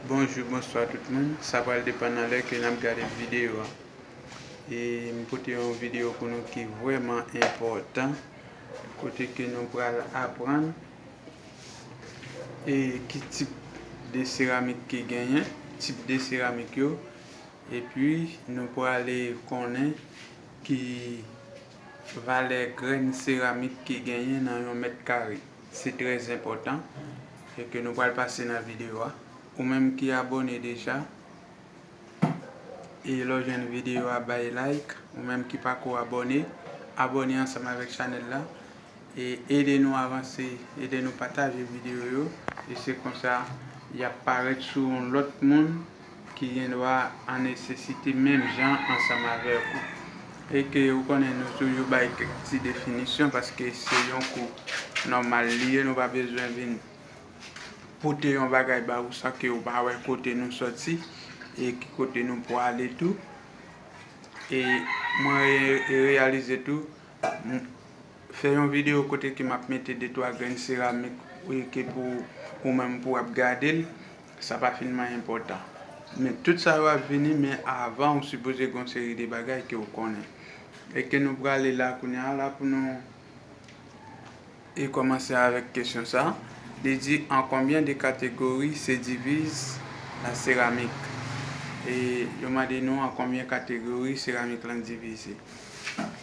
Bonjou bonswa tout moun sa pral depan nan lè ke nap gade video a e m pote yon video pou nou ki vrèman enpòtan kote ke nou pral aprann e ki tip de seramik ki genyen tip de seramik yo epi nou prale konnen ki valè grenn seramik ki genyen nan yon mèt kare. Se trè enpòtan e ke nou pral pase nan videyo a. Ou menm ki abòne deja e lè w jwenn videyo a bay like. Ou menm ki pako abòne, abòne ansanm avèk chanèl la e ede nou avanse, ede nou pataje videyo yo e se konsa yap parèt sou yon lòt moun. ki gen dwa an nesesite menm jan ansanm avèk ou. E ke ou konnen nou toujou bay kèk ti definisyon paske se yon kou nòmal li ye nou pa bezwen vin pote yon bagay ba ou san ke ou pa wè kote nou soti e ki kote nou pwale tou. E mwen reyalize tou fè yon videyo kote ke map mete de twa grenn seramik e ke pou ou menm pou ap gade l. Sa pa fin man enpòtan. Men tout sa yo ap vini men avan ou sipoze gon seri de bagay ke ou konnen. E ke nou prale la kounye a la pou nou e kòmanse avèk kesyon sa. Li di an konbyen de kategori se diviz la seramik? E yo mande nou an konbyen kategori seramik lan divize.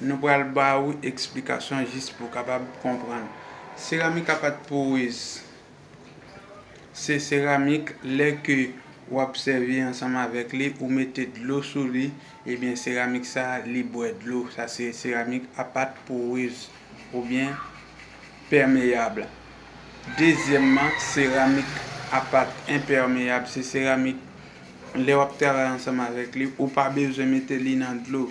Nou pral ba ou eksplikasyon jis pou w kapab konprann. Seramik a pat porez. Se seramik lè ke w ap sèvi ansanm avèk li, ou mete dlo sou li, ebyen seramik sa a li bwè dlo. Sa se seramik a pat porez oubyen pèmeyab. Dezyèmman, seramik a pat enpèmeyab. Se seramik lè w ap travay ansanm avèk li, ou pa bezwen mete li nan dlo.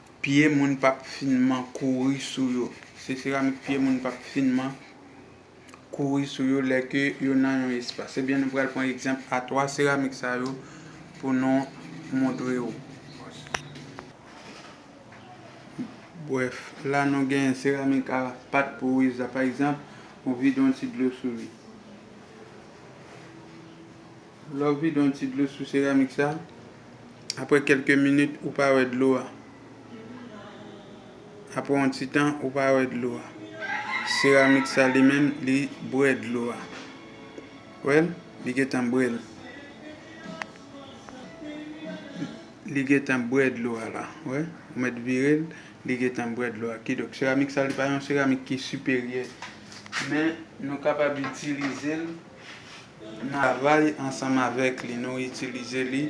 Pye moun p ap finman kouri sou yo. Se seramik pye moun p ap finman kouri sou yo lè ke yo nan yon espas. Ebyen nou pral pran egzanp a 3 seramik sa yo pou nou montre ou. Brèf, la nou gen seramik a pat pou riz la pa egzanp, ou vide yon ti dlo sou li. Lè w vide yon ti dlo sou seramik sa, aprè kèlke minit ou pa wè dlo a. Aprè yon ti tan ou pa wè dlo a. Seramik sa li menm li bwè dlo a. Wè l? Li gen tan bwè l. Li gen tan bwè dlo a la. Wè? Ou mèt vire l, li gen tan bwè dlo a. Kidonk seramik sa li pa yon seramik ki siperyè. Men nou kapab itilize l. Navay ansanm avèk li nou itilize li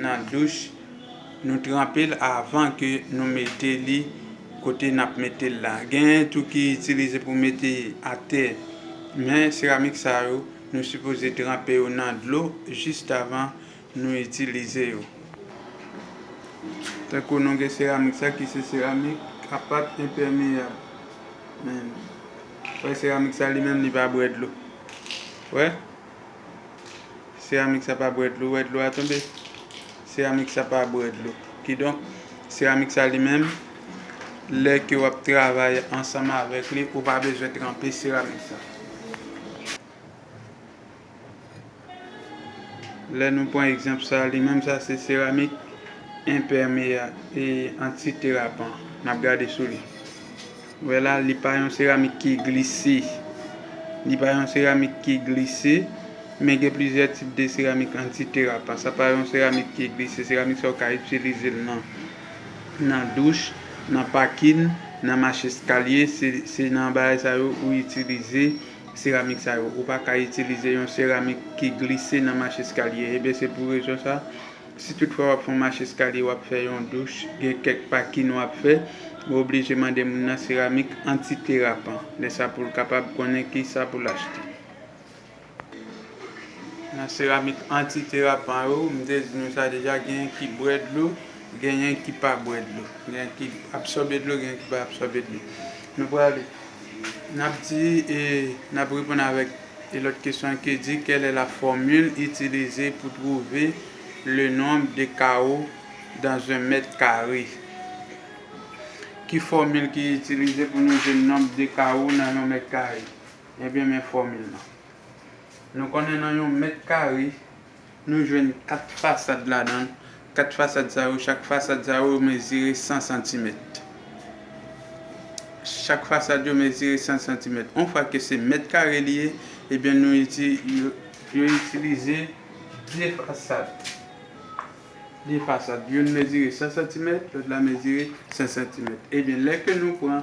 nan douch nou tranpe l avan ke nou mete li kote nap mete l la genyen tou ki itilize pou mete atè men seramik sa yo nou sipoze tranpe yo nan dlo jist avan nou itilize yo tankou nou gen seramik sa ki se seramik apat enpèmeyab men seramik sa li menm li pa bwè dlo. Wè. Seramik sa pa bwè dlo, wè dlo a tonbe. Seramik sa pa bwè dlo. Kidonk, seramik sa li menm, lè ke w ap travay ansanm avèk li, ou pa bezwen tranpe seramik sa. Lè nou pran egzanp sa, li menm sa se seramik enpèmeya, e antiterapan. N ap gade sou li. Ou wè la, li pa yon seramik ki glise. Li pa yon seramik ki glise, men gen plizyè tip de seramik anti-terapan. Sa pa yon seramik ki glise. Seramik sa ou ka itilize l nan nan douch, nan pakin, nan mache eskalye. Se nan bagay sa yo ou itilize seramik sa yo. Ou pa ka itilize yon seramik ki glise nan mache eskalye. Ebyen se pou rezon sa. Si tout fwa wap fon mach eskalye wap fè yon douch gen kèk pa kin wap fè ou oblije mande moun nan seramik anti derapan lè sa poul kapab konnen kisa poul achte. Nan seramik anti derapan yo mte di nou sa deja genyen ki bwè dlo genyen ki pa bwè dlo genyen ki absòbe dlo genyen ki pa absòbe dlo nou pral nap di e nap reponn avèk. E lòt kesyon an ki di, Quelle est la formule utilisée pour trouver le nombre de carreaux dans un mètre kare? Ki fòmil ki itilize pou nou jwenn nonb de kawo nan yon mèt kare? Ebyen men fòmil lan. Nou konnen nan yon mèt kare, Nou jwenn 4 fasad ladan l. 4 fasad sa yo, chak fasad sa yo mezire 100 santimèt. Chak fasad yo mezire 100 santimèt. On fwa ke se mèt kare li ye, ebyen nou iti, yo itilize 2 fasad. 2 fasad. Youn mezire 100 santimèt, lòt la mezire 100 santimèt. Ebyen lè ke nou pran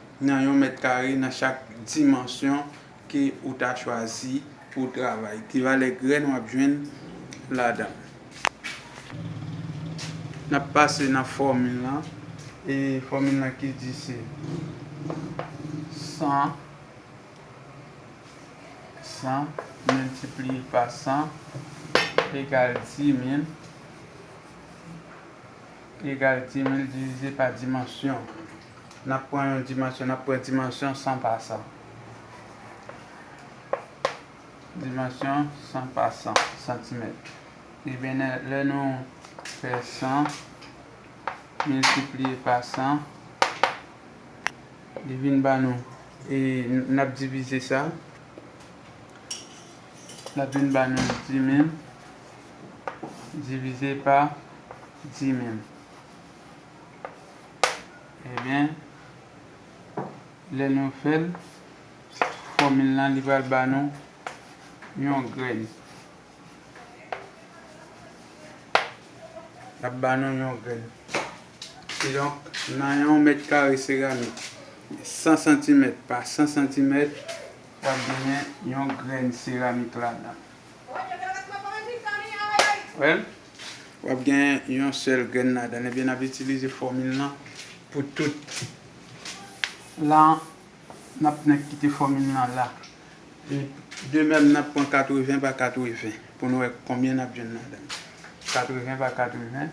nan yon mèt kare nan chak dimansyon ke ou ta chwazi pou travay. Ki valè grèn wap jwenn ladan. Nap pase nan fòmil lan e fòmil lan ki di se 100 100 miltipliye pa 100 egal 10000 egal 10000 divize pa dimansyon. N ap pran yon dimansyon. N ap pran dimansyon san pasan. Dimansyon san pasan, santimèt. Ebyen, lè nou fè 100 miltipliye pa 100, li vin ba nou, e n ap divize sa, l ap vin ba nou 10000 divize pa 10000. Ebyen lè nou fèl fòmil lan li pral ba nou yon grenn. Lap ba nou yon grenn. Kidonk nan yon mèt kare seramik 100 santimèt pa 100 santimèt wap genyen yon grenn seramik ladan. Wèl? W ap gen yon sèl grenn ladan l. Ebyen n ap itilize fòmil lan pou tout. La, n ap nèk kite fòmil lan la. E de mèm, n ap pran 80 pa 80 pou nou wè konbyen n ap jwenn ladan l. 80 pa 80,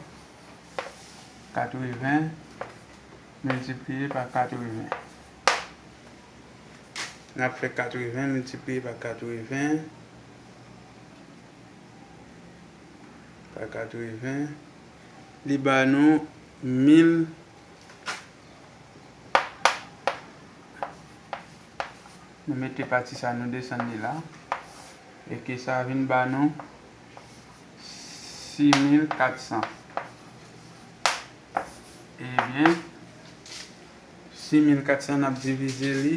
80 miltipliye pa 80. N ap fè 80 miltipliye pa 80. Pa 80 Li ba nou 1000 Nou mete pati sa nou desann li la E ke sa vin ba nou 6400 Ebyen 6400 n ap divize li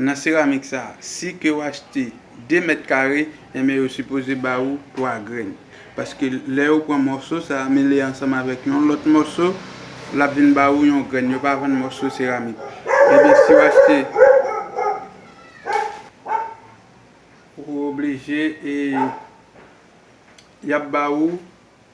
Nan seramik sa, si ke w achte 2 mèt kare, enben yo sipoze ba ou 3 grenn. Paske lè ou pran mòso sa a mele ansanm avèk yon lòt mòso, l ap vin ba ou yon grenn. Yo pa vann mòso seramik. Enben si w achte, ou oblije e y ap ba ou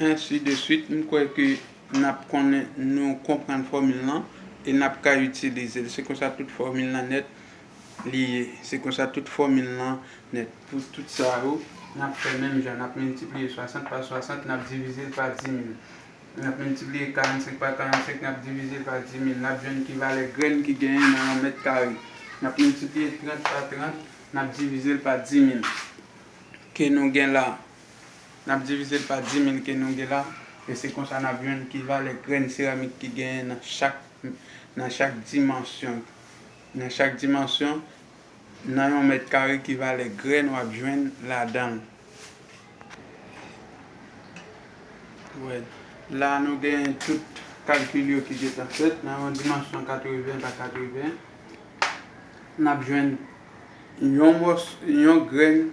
Ainsi de suite, m kwè ke n ap konnen, nou konprann fòmil lan e n ap ka itilize l. Se konsa tout fòmil lan nèt li ye. Se konsa tout fòmil lan nèt. Pou tout sa yo, n ap fè menm jan. N ap miltipliye 60 pa 60, n ap divize l pa 10000. N ap miltipliye 45 pa 45, n ap divize l pa 10000. N ap jwenn ki valè grenn ki genyen nan yon mèt kare. N ap miltipliye 30 pa 30, n ap divize l pa 10000. Ke nou gen la a. N ap divize l pa dimin ke nou gen la, e se konsa n ap jwenn ki valè grenn seramik ki genyen nan chak nan chak dimansyon. Nan chak dimansyon, nan yon mèt kare ki valè grenn w ap jwenn ladan l. La a nou gen tout kalkil yo ki gen tan fèt. Nan yon dimansyon 80 pa 80, n ap jwenn yon mòso, yon grenn.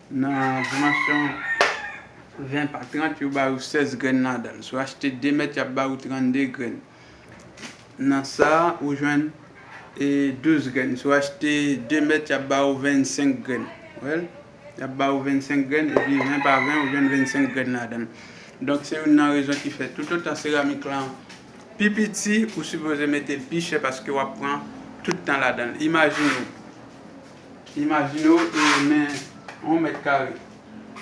Nan dimansyon 20 pa 30 yo bay ou 16 grenn ladan l. Si w achte 2 mèt y ap bay ou 32 grenn. Nan sa a ou jwenn 12 grenn. Si w achte 2 mèt y ap bay ou 25 grenn. Ou wè l? Y ap bay ou 25 grenn epi 20 pa 20 ou jwenn 25 grenn ladan l. Donk se youn nan rezon ki fè toutotan seramik lan pi piti ou sipoze mete l pi chè paske w ap pran tout tan ladan l. Imajine w. Imajine w men yon mèt kare.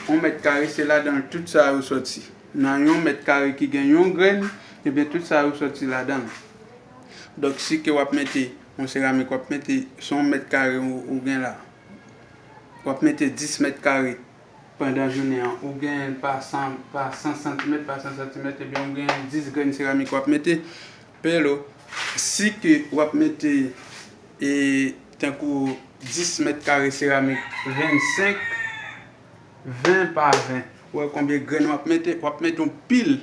Yon mèt kare se ladan l tout sa yo soti. Nan yon mèt kare ki gen yon grenn, ebyen tout sa yo soti ladan l. Donk si ke w ap mete yon seramik, w ap mete, se yon mèt kare ou gen la, w ap mete 10 mèt kare pandan jounen an, ou gen pa 100 santimèt, pa 100 santimèt, ebyen ou gen 10 grenn seramik w ap mete. Pelo, Si ke w ap mete e tankou 10 mèt kare seramik 25, 20 pa 20, ou wè konbyen grenn w ap mete? W ap mete yon pil.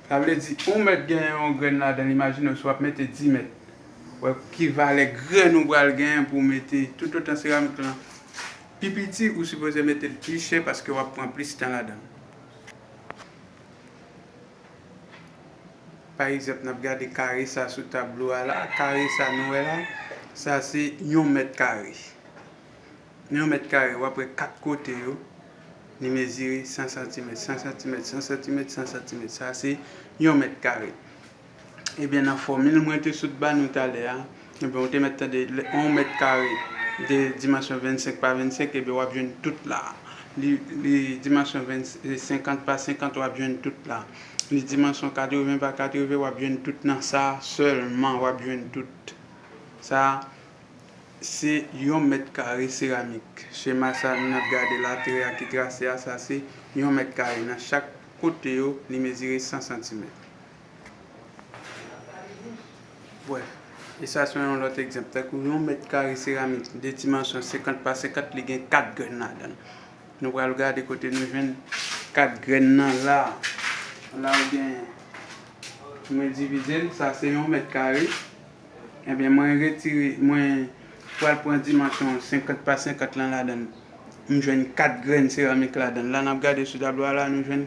Sa vle di, yon mèt gen yon grenn ladan l. Imajine w si w ap mete 10 mèt. Ou wè ki valè grenn ou pral genyen pou w mete. Toutotan seramik lan pi piti, ou sipoze mete l pi chè paske w ap pran plis tan ladan l. Pa egzanp, n ap gade kare sa sou tablo a la. Kare sa nou wè la, sa se yon mèt kare. Nan yon mèt kare, w ap wè kat kote yo, li mezire 100 santimèt, 100 santimèt, 100 santimèt, 100 santimèt. Sa se yon mèt kare. Ebyen nan fòmil mwen te sot ba nou talè a, ebyen ou te mèt tande lè yon mèt kare de dimansyon 25 pa 25 ebyen wap jwenn tout la. Li li dimansyon 50 pa 50 wap jwenn tout la. Li dimansyon 80 pa 80 wap jwenn tout nan sa sèlman wap jwenn tout. Sa se yon mèt kare seramik. Chema sa nou ap gade la tire a ki trase a sa se yon mèt kare nan chak kote yo li mezire 100 santimèt. Bwè. E sa se yon lòt egzanp. Tankou yon mèt kare seramik de dimansyon 50 pa 50, li gen 4 grenn ladan l. Nou pral gade kote nou jwenn 4 grenn nan la a. La ou gen, mwen divize l, sa se yon mèt kare. Enben, mwen retire, mwen pral pran dimansyon 50 pa 50 lan ladan l. M jwenn 4 grenn seramik ladan l. La n ap gade sou tablo a la a, nou jwenn.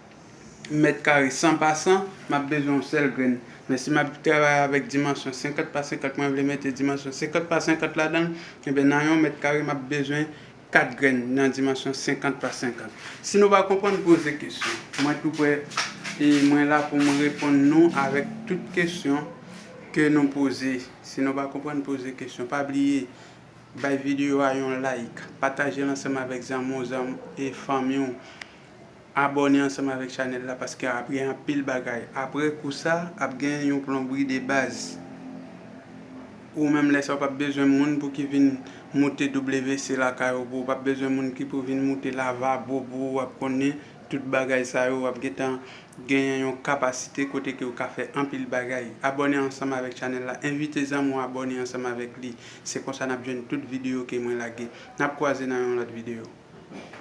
mèt kare 100 pa 100 map bezwen yon sèl grenn men si map travay avèk dimansyon 50 pa 50 mwen vle mete dimansyon 50 pa 50 ladanl enben nan yon mèt kare map bezwen 4 grenn nan dimansyon 50 pa 50 si nou pa konprann poze kesyon mwen tou prè e mwen la pou mwen reponn nou avèk tout kesyon ke nou poze si nou pa konprann poze kesyon pa bliye bay videyo a yon like patajel ansanm avèk zanmi'w zanm e fanmi'w. Abòne ansanm avèk chanèl la paske ap gen anpil bagay aprè kou sa ap gen yon plonbri de baz ou menm lè sa ou pap bezwen moun pou ki vin moute WC lakay ou pou ou pap bezwen moun ki pou vin moute lavabo pou ou wap konnen tout bagay sa yo wap gentan genyen yon kapasite kote ke ou ka fè anpil bagay abòne ansanm avèk chanèl la envite zanmi ou abòne ansanm avèk li se konsa nap jwenn tout video ke mwen lage nap kwaze nan yon lòt video.